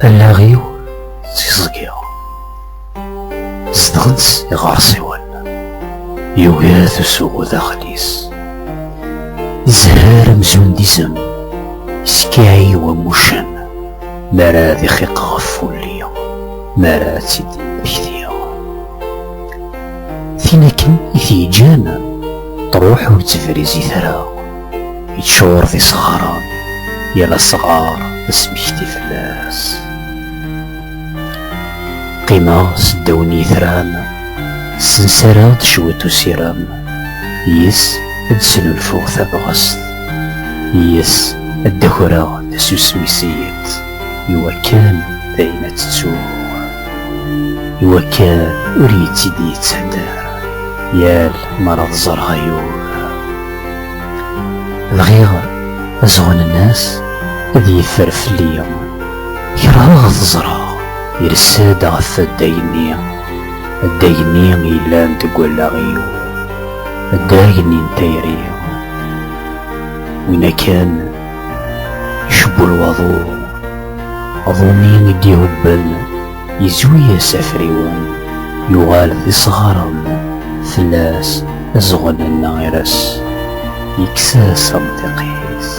Allaɣ-iw tiẓgi zedɣent-tt iɣersiwen yugar tusuɣu daxel-is izhar amzun d izem iskaɛi wamucen mi ara ad ixiq ɣef wulli mi ara ad tt-id-mmektiɣ Tin akken i t-yeǧǧan truḥ ur ttebrizit ara, yeččur d isɣaren, yal asɣar d asmekti fell-as. Qqimeɣ s ddaw n yitran, ssensareɣ-d cwiṭ usirem, yis ad d-snulfuɣ tabɣest, yis ad d-akreɣ tasusmi s yiḍ. iwakken d ayen ad tettu iwakken ur yettid yettḥadar yal mara tẓerɣ ayur bɣiɣ azɣun-nnes ad yeffer fell-i kerheɣ ad ẓreɣ irsa-d ɣef addag-nni addag-nni yellan deg wallaɣ-iw addag-nni n tayri win akan Icebbul waḍu, aḍu-nni i d-ihubbel, yezwi-as afriwen, yuɣal d isɣaren fell-as, azɣel n lɣir-as, yekkes-as amḍiq-is.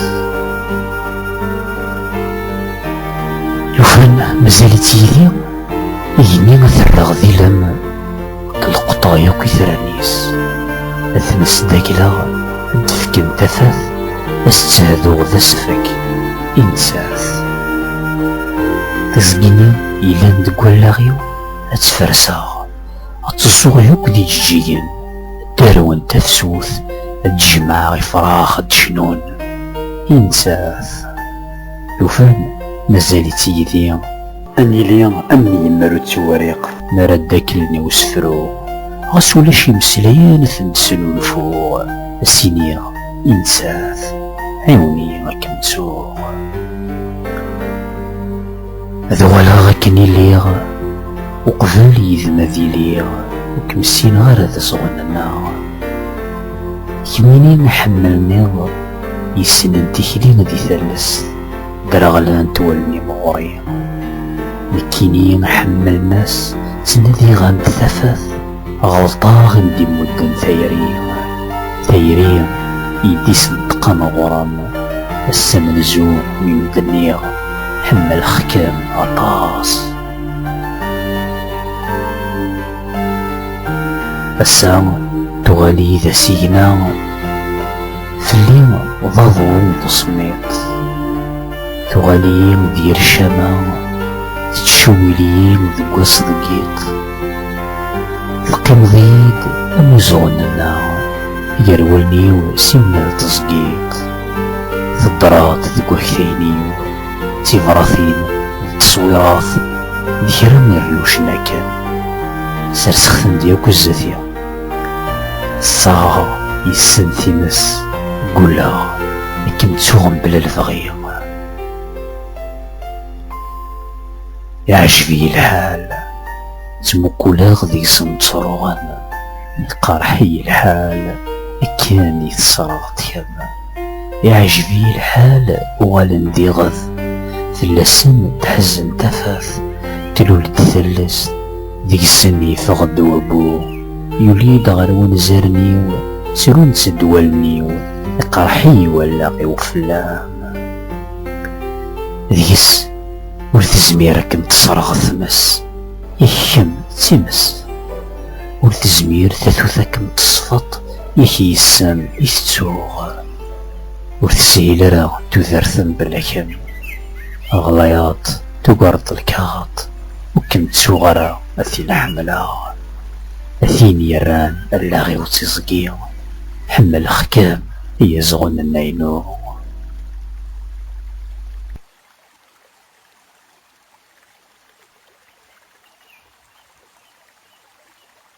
Lufan mazal-itt yid-i, igenni ad t-rreɣ d ilem. Lqeṭṭa yakk itran-is ad ten-sdagleɣ ad d-fken tafat ad s-ttehduɣ d asefk i nettat. Tiẓgi-nni yellan deg wallaɣ-iw ad tt-ferseɣ ad tt-ẓẓuɣ yakk d ijeǧǧigen ddarwen tafsut ad d-jemɛeɣ ifrax ad d-cnun i nettat. Lufan mazal-itt yid-i. Ad nili am yemmer ur ttewriq. Mi ara ddaklen i usefru. Ɣas ulac imeslayen ad ten-snulfuɣ. Ad s-iniɣ i nettat, ɛiwen-iyi ad kem-ttuɣ. Ad uɣaleɣ akken i lliɣ. Uqbel yid-m ad iliɣ. Ur kem-ssineɣ ara d ẓɣel-nneɣ. Kemmini ḥemmel-nniḍ. Yessnen tikli di tallest. Dreɣlent wallen-im ɣur-i. Nekkini ḥemmel mass ttnadiɣ-am-d tafat. Ɣelṭeɣ i m-d-imudden tayri. Tayri i d-isenṭqen ɣur-m. Ass amenzu mi m-d-nniɣ ḥemmleɣ-kem aṭas. Ass-a tuɣal-iyi d asigna. Fell-i d aḍu n teṣmiṭ Tuɣal-iyi d yir ccama Tettcewwil-iyi deg wass deg yiḍ Teqqimeḍ-iyi-d am izuɣen-nneɣ Gar wallen-iw simmal d teẓgiḍ Teddreḍ deg waktayen-iw D tibratin d teṣwirat D kra n rriwcen akken Serseɣ-ten-d yakk zdat-i Ssaɣeɣ yessen times, gguleɣ akken ttuɣ mebla lebɣi. Iɛjeb-iyi lḥal, ttmuquleɣ deg-s mtruɣen, iqerreḥ-iyi lḥal, akken i tesreɣ tkerna. Iɛǧeb-iyi lḥal uɣalen d iɣed, fell-asen tḥezzem tafat, tlul-d tallest, deg-sen yeffeɣ-d wabbu. Yuli-d ɣer wanzaren-iw, ttrun-tt-ed wallen-iw, iqerreḥ-iyi wallaɣ-iw fell-am. Deg-s ur tezmir ad kem-tesreɣ tmes, i kemm d times, ur tezmir tatut ad kem-tesfeḍ. Ik yes-m i tettuɣ, ur teshil ara tudert mebla kemm. Ɣlayeḍ, tugareḍ lkaɣeḍ, ur kem-ttuɣ ara a tin ḥemmleɣ. A tin yerran allaɣ-iw d tiẓgi, ḥemmleɣ-kem ay azɣun n naynu.